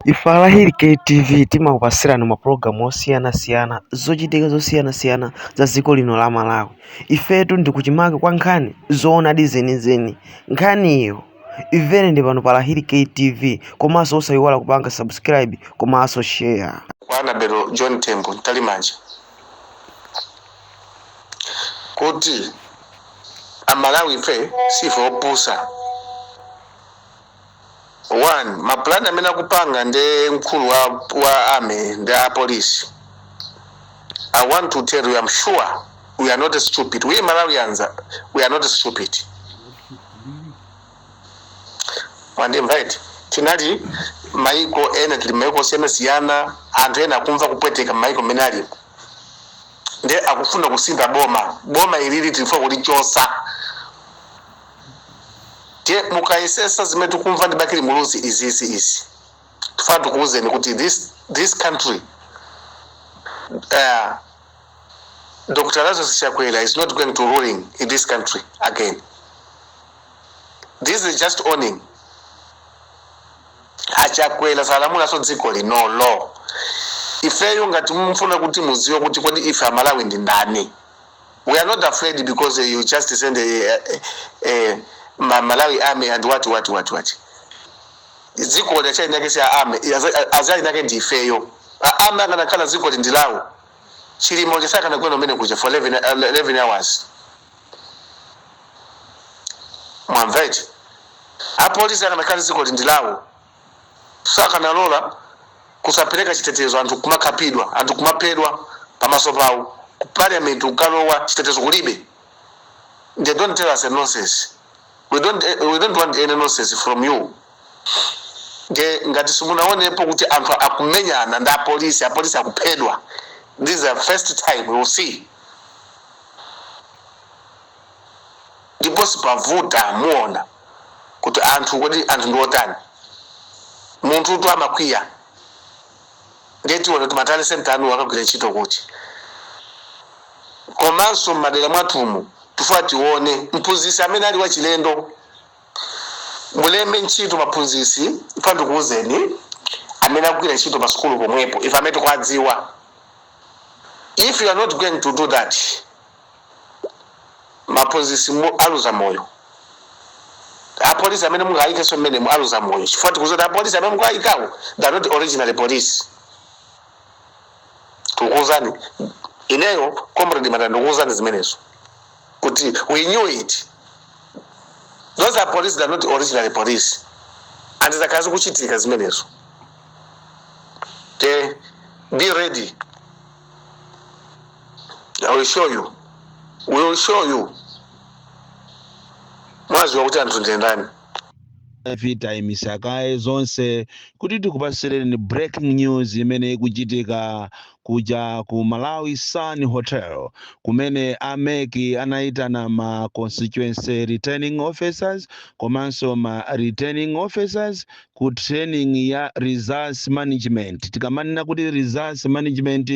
Ife a Lahiri KTV timakupasirani mapulogalamu osiyanasiyana zochitika zosiyanasiyana za dziko lino la Malawi. Ifetu ndi kuchimake kwa nkhani zoonadi zenizeni. Nkhaniyo imvere ndi pano pa Lahiri KTV komanso osayiwala kupanga subscribe komanso share. kwa Anabel John Tembo Mtalimanja kuti Amalawi ife sife opusa. 1 ma plan amene akupanga ndi mkulu wa, wa army ndi a police i want to tell you i'm sure we are not stupid we malawians are- we are not stupid wandimva iti tinali maiko ena tili maiko osiyanasiyana anthu ena akumva kupweteka m'maiko mmene aliko nde akufuna kusintha boma boma ilili tilifuna kulichotsa Ndiye mukayesetsa zimene tikumva ndi Bakili Muluzi izizi izi tifuna tikuwuzeni kuti this, this country uh, Dr. Lazarus Chakwera is not going to ruling in this country again. This is just warning. Achakwera salamulanso dziko linoli. Ifeyo ngati mufuna kuti mudziwe kuti kodi ife Amalawi ndi ndani. We are not afraid because uh, you just send a, a, a Ma- Malawi army and what what what what. Dzikoli kesi ya army azali nake ndi ifeyo. A- Army akanakhala dzikoli ndi lawo. Chilima sakanagwa mmene kuja for 11 uh, 11 hours. Mwamvete. Apolisi akanakhala dzikoli ndi lawo. sakanalola kusapereka chitetezo anthu kumakhapidwa anthu kumaphedwa pamaso pawo ku parliament ukalowa chitetezo kulibe they don't tell us a nonsense we don't, eh, we don't want any nonsense from you nde ngati simunaonepo kuti anthu akumenyana ndi apolisi apolisi akuphedwa this is the first time we will see ndipo sipavuta muona kuti anthu kodi anthu ndi otani munthutu amakwiya ndiye tiona kuti ma tally centre anu akagwira ntchito kuti komanso m'madera mwathumu tifuna tione mphunzitsi amene ali wachilendo mulembe ntchito maphunzitsi ifuna ndikuwuzeni amene akugwira ntchito pa sukulu pomwepo ife amene tikuwadziwa if you are not going to do that maphunzitsi mu aluza moyo apolisi amene mungayikenso mmenemo aluza moyo chifukwa tikudziwa kuti apolisi amene mungayikawo they are not originally police tikukuwuzani ineyo comrade manda ndikuwuzani zimenezo kuti we knew it those are police they are not originally police and zakhala zikuchitika zimenezo te be ready I will show you. We will show you. Mwaziwa kuti anthu ndi ndani? tayimisa kaye zonse kuti tikupatsireni breaking news imene ikuchitika kuja ku malawi sun hotel kumene a mec anayitana ma constituency returning officers komanso ma returning officers ku training ya results management. Tikamanena kuti results management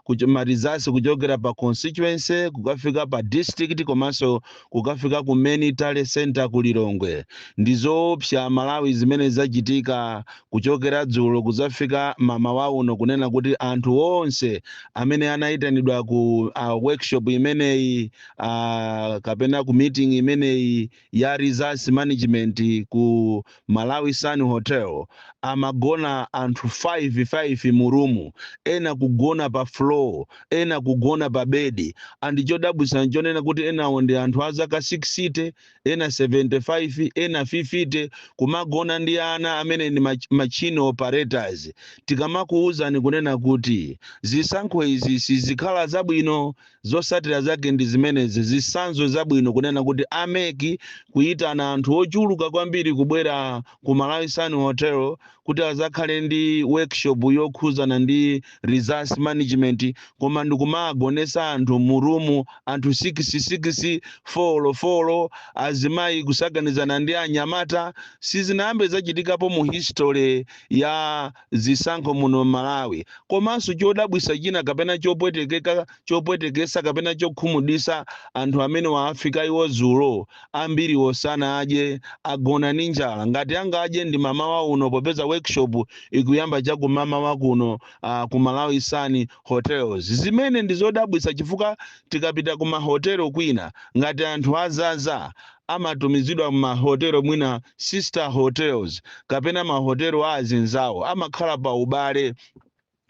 kucho- ma results kuchokera pa constituency kukafika pa district komanso kukafika ku main tally center ku Lilongwe. Ndi zoopsa Malawi zimene zachitika kuchokera dzulo kudzafika mamawa uno kunena kuti anthu onse amene anayitanidwa ku uh, workshop imeneyi uh, kapena ku meeting imeneyi ya Results Management ku Malawi Sun Hotel amagona anthu 5 5 mu room, ena kugona pa floor, ena kugona pa bedi and chodabwitsa nchonena kuti enawo ndi anthu a zaka 60, ena 75, ena 50 kumagona ndi ana amene ndi machine operators. Tikamakuuzani kunena kuti zisankho izi sizikhala zabwino Zotsatira zake ndi zimenezi, zitsanzo zabwino kunena kuti a mec kuyitana anthu ochuluka kwambiri kubwera ku Malawi Sun Hotel kuti azakhale ndi workshop yokhuzana ndi results management koma ndikumagonetsa anthu mu room anthu 6 6 folo folo azimayi kusakanizana ndi anyamata sizinayambe zachitikapo mu history ya zisankho muno Malawi. Komanso chodabwisa china kapena chopwetekeka, chopwetekesa kapena chokhumudwisa anthu amenewa afika iwo zulo ambiriwo sanadye agona ndi njala ngati angadye ndi mamawa uno popeza workshop ikuyamba cha kumamawa kuno uh, ku Malawi Sun hotels. Zimene ndi zodabwisa chifukwa tikapita ku mahotelo kwina ngati anthu azaza amatumizidwa mmahotelo mwina sister hotels kapena mahotelo a azinzawo amakhala pa ubale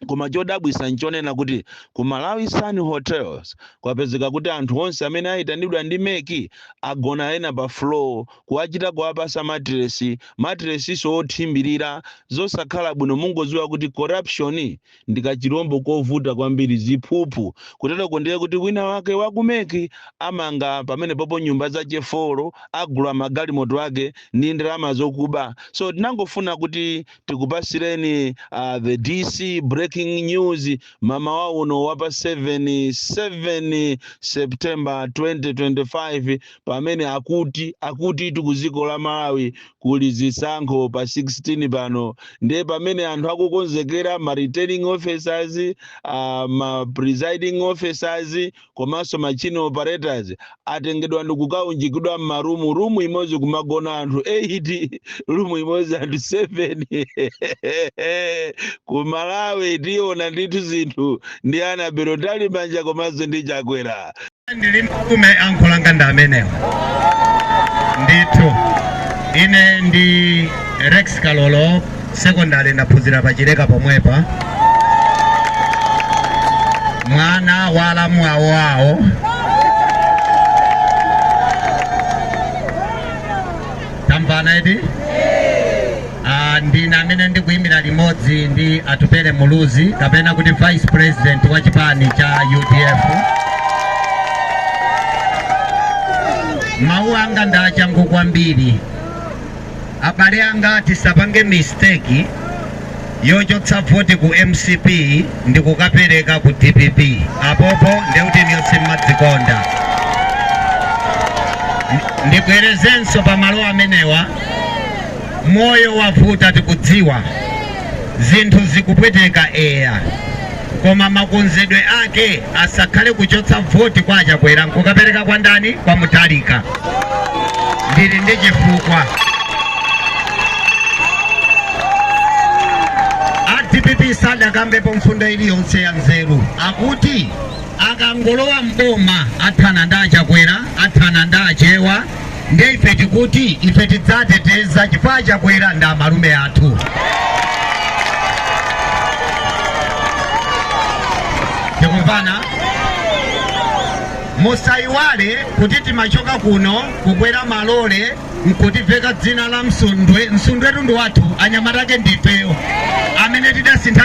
koma chodabwisa nchonena kuti ku Malawi Sun Hotels kwapezeka kuti anthu onse amene ayitanidwa ndi mec agona ena pa floor kuwachita kuwapasa matilesi, matilesinso othimbilira, zosakhala bwino mungoziwa kuti corruption ndi kachilombo kovuta kwambiri, ziphuphu. Kuteroko ndiye kuti winawake wa ku mec amanga pamenepopo nyumba za chefolo, agula magalimoto ake ndi ndalama zokuba. So tinangofuna kuti tikupasireni the DC breaking news mamawa uno wa pa 7, 7 September 2025. pamene akuti akutitu ku dziko la Malawi kuli zisankho pa 16 pano ndiye pamene anthu akukonzekera ma returning officers uh, ma presiding officers komanso machine operators atengedwa ndikukaunjikidwa m'marumu rumu imodzi kumagona anthu 8 rumu imodzi anthu 7 ku Malawi tiona ndithu zinthu ndi Annabel Mtalimanja komanso ndi Chakwera ndili nkumeneko ankolo anga ndi amenewa ndithu ine ndi Rex Kalolo sekondari ndaphunzira pa Chileka pomwepa mwana wa alamu awo awo tamvana eti Ah, ndine amene ndikuyimirira limodzi ndi Atupele Muluzi kapena kuti vice president wa chipani cha UDF mawu anga ndi achangu kwambiri abale anga tisapange mistake yochotsa voti ku MCP ndikukapereka ku DPP apopo ndeuti inuyo simmadzikonda ndibwerezenso pa malo amenewa moyo wavuta tikudziwa zinthu zikupweteka eya koma makonzedwe ake asakhale kuchotsa voti kwa a Chakwera nkukapereka kwa ndani kwa Mutharika ndili ndi chifukwa a DPP sadakambepo mfundo iliyonse ya nzeru akuti akangolowa mboma athana ndi a Chakwera athana ndi Achewa ndiye ife tikuti ife tidzateteza chifukwa Chakwera ndi amalume athu tikumvana musayiwale kuti timachoka kuno kukwera malole nkutiveka dzina la Msundwe Msundwetu ndi wathu anyamata ake ndifeyo amene tidasintha